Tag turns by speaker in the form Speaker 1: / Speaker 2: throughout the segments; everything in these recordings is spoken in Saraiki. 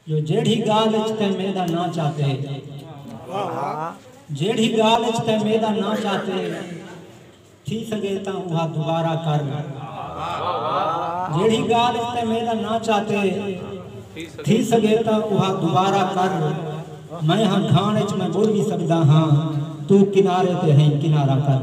Speaker 1: جو جیڑھی گالھ اچ تیں میڈا ناں چاتے جیڑھی گالھ اچ تیں میڈا ناں چاتے تھی سگے تاں اوہا دوبارہ کر جیڑھی گالھ اچ تیں میڈا ناں چاتے تھی سگے تاں اوہا دوبارہ کر میں ہاں کھان اچ میں بڑھ بھی سکدا ہاں تو کنارے تے ہیں کنارہ کر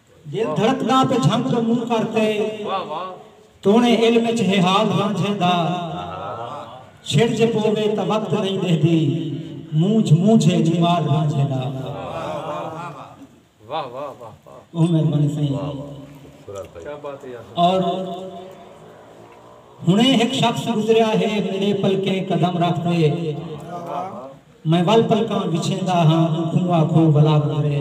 Speaker 1: دل دھڑکداں پے جھنگ توں منہ کر تے تونے علم اچ ہے حال رانجھیں دا چھڑ جے پووے تاں وقت نئیں ڈیہدی مونجھ مونجھ ہے جمال رانجھیں دا
Speaker 2: بہت مہربانی
Speaker 1: سائیں اور ہنے ہک شخص گزریا ہے میرے پلکیں قدم رکھ تے میں ول پلکاں وچھیندا ہاں اوکوں آکھو ولا گزرے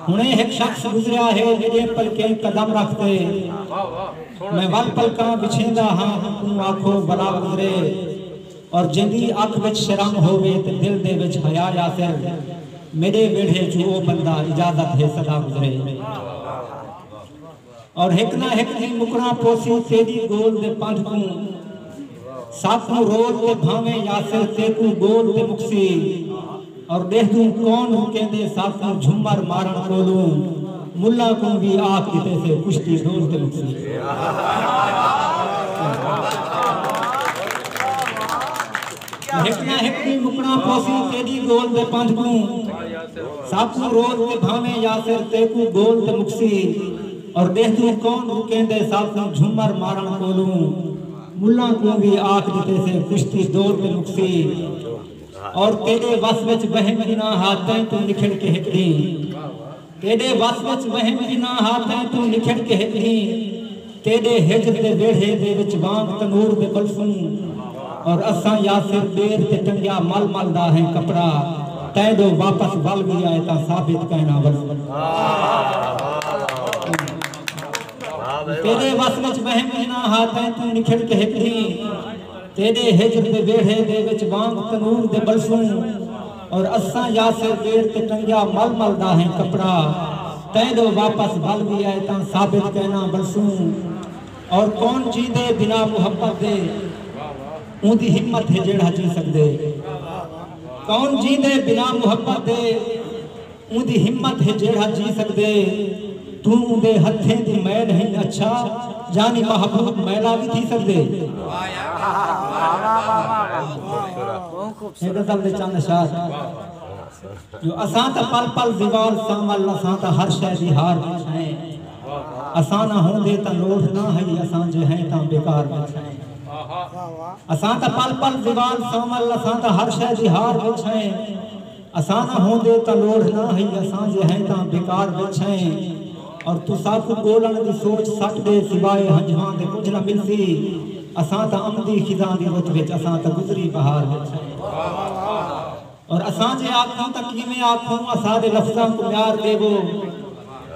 Speaker 1: ہنڑیں ہک شخص گزریا ہے جڈیں پلکیں قدم رکھ تے میں ول پلکاں وچھیندا ہاں اوکوں آکھو ولا گزرے اور جیندی اکھ وچ شرم ہووے تے دل دے وچ حیا یاسر میڈے ویڑھے چوں او بندہ اجازت ہے سدا گزرے۔ اور ہک نہ ہک ڈینہہ مکݨاں پوسی تیݙی ڳول دے پندھ کوں ساکوں رول تے بھانویں یاسر تیکوں ڳول تے مکسی اور ݙیہدوں کون رکیندے ساکوں جھمر مارݨ کولوں ملا کوں وی آکھ ݙتیسے کشتی ڈول تے مکسی۔ ہک نہ ہک ݙینہہ مکݨا پوسی تیݙی ڳول دے پندھ کوں ساکوں روز تے بھانویں یاسر تیکوں ڳول تے مکسی اور ݙیہدوں کون رکیندے ساکوں جھمر مارݨ کولوں ملاں کوں وی آکھ ݙتیسے کشتی دو تے مکسی اور تیݙے وس وچ وہم وی نہ ہا تیں توں نکھڑ کے ہک ݙینہہ تیݙے وس وچ وہم انہاں ہاتھیں توں نکھڑ کے ہک ݙینہہ تیݙے ہجر دے ویڑھے دے وچ وانگ تنور دے ٻلسوں اور اساں یاسر پیر تے ٹنگیا مل مل دا ہیں کپڑا تیں ݙو واپس ول وی آئے تاں ثابت کہݨا ولوں۔ تیݙے وس وچ وہم انہاں ہاتھیں توں نکھڑ کے ہک ݙینہہ تیݙے ہجر دے ویڑھے دے وچ وانگ تنور دے ٻلسوں۔ اور اساں یاسر گیٹ تے ٹنگیا مل مل دا ہیں کپڑا تیڈو واپس ول وی اے تاں ثابت کینا ولسوں اور کون جیندے بنا محبت دے اوندی ہمت ہے جیڑھا جی سگدے کون جیندے بنا محبت دے۔ اوندی ہمت ہے جیڑھا جی سگدے توں اوندے ہتھیں دی میل ہنج اچھا یعنی محبوب میلا وی تھی سگدے ہے غزل دے چند اشعار جو اساں تاں پل پل زوال ساں ول اساں تاں ہر شے دی ہار وی سنے اساں نہ ہوندے تاں لوڑھ نہ ہئی اساں جے ہیں تاں بیکار وی سنے اساں تاں پل پل زوال ساں ول اساں تاں ہر شے دی ہار وی سنے اساں نہ ہوندے تاں لوڑھ نہ ہئی اساں جے ہیں تاں بیکار وچ ہیں اور تساکوں ڳولݨ دی سوچ سٹ دے سوائے ہنجھواں دے کجھ نہ ملسی اساں تاں امدی خزاں دی رت وچ اساں تاں گزری بہار وچ ہیں اور اساں جے آکھوں تاں کیویں آکھوں اساݙے لفظاں کوں میار ݙیوو۔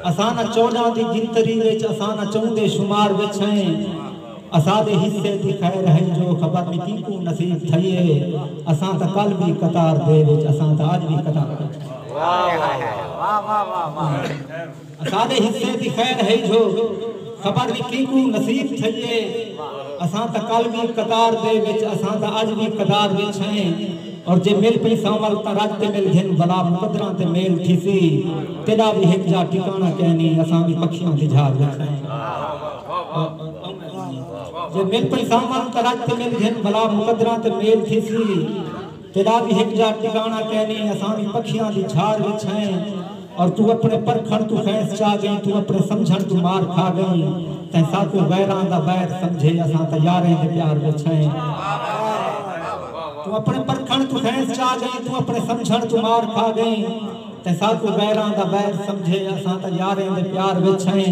Speaker 1: اساں نہ چونجاں دی گنتری وچ اساں نہ چوں دے شمار وچ ہیں اساڈے حصے دی خیر ہئی جو خبر نی کینکوں نصیب تھئی اے اساں تاں کل وی قطار دے وچ اساں تاں اج وی قطار دے وچ اساڈے حصے دی خیر ہئی جو خبر نی کینکوں نصیب تھئی اے اساں تاں کل وی قطار دے وچ اساں تاں اج وی قطار وچ ہیں۔ اور جے مل پئیساں ول تاں رج تے مل گھن بھلا مقدراں تے میل تھیسی تیڈا وی ہک جاہ ٹکانڑاں کینی اساں وی پکھیاں دی جھاگ وچ سئیں جے مل پئیساں ول تاں رج تے مل گھن بھلا مقدراں تے میل تھیسی تیڈا وی ہک جاہ ٹکانڑاں کینی اساں وی پکھیاں دی جھاگ وچ سئیں۔ اور توں اپݨے پرکھݨ توں خیس چا ڳئیں توں اپݨے سمجھݨ توں مار کھا ڳئیں تیں ساکوں غیراں دا ویر سمجھے اساں تاں یاریں دے پیار وچ ہیں توں اپݨے پرکھݨ توں خیس چا ڳئیں توں اپݨے سمجھݨ توں مار کھا ڳئیں تیں ساکوں غیراں دا ویر سمجھے اساں تاں یاریں دے پیار وچ ہیں۔